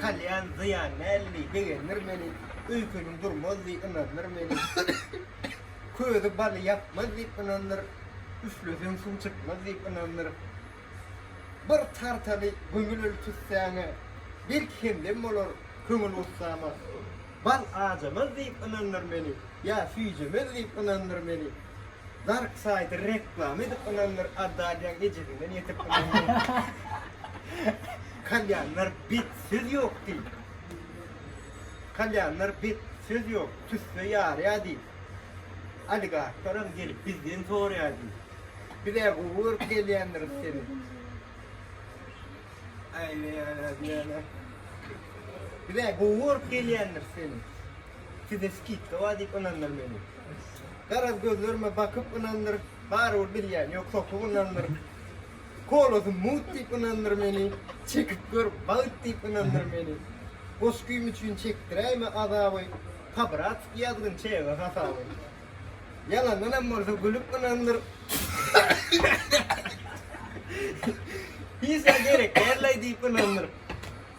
Kalýan zyýan däldi, begendir meni, Öýkeniň durmaz diý, ynandyr meni. Közi baly ýakmaz diýip ynandyr, Üfleseň suw çykmaz diýip ynandyr. Bir tartaly gömül öl tüssäňe, Belki hemdem bolar köňül gussama. Bal ajamaz diýip ynandyr meni, Ýa süýjemez diýip ynandyr meni. Dark saýty reklama edip ynandyr, Adalýaň ejesinden ýetip ynandyr. Kalýanlar bet söz ýok diýip. Kalýanlar bet söz ýok tüsse ýarýa diýip. Oligarklaram gelip bizden sorýa diýip. Bizä gowy görüp gelýändiris seni. Aýlaýalar. Bizä gowy görüp gelýändiris seni. Size skidka bar diýip ynandyr meni. Garaz gözlerime bakyp ynandyr. Barybir bilýän ýok sokup ynandyr. Kolosy mugt diýip ynandyr meni, Çekip gör bagt diýip ynandyr meni. Goşgym üçin çekdiräýme azaby, Kabra atyp ýazgyn çege hasaby. Ýalandanam bolsa gülüp ynandyr, Hiç zat gerekdällaý diýip ynandyr.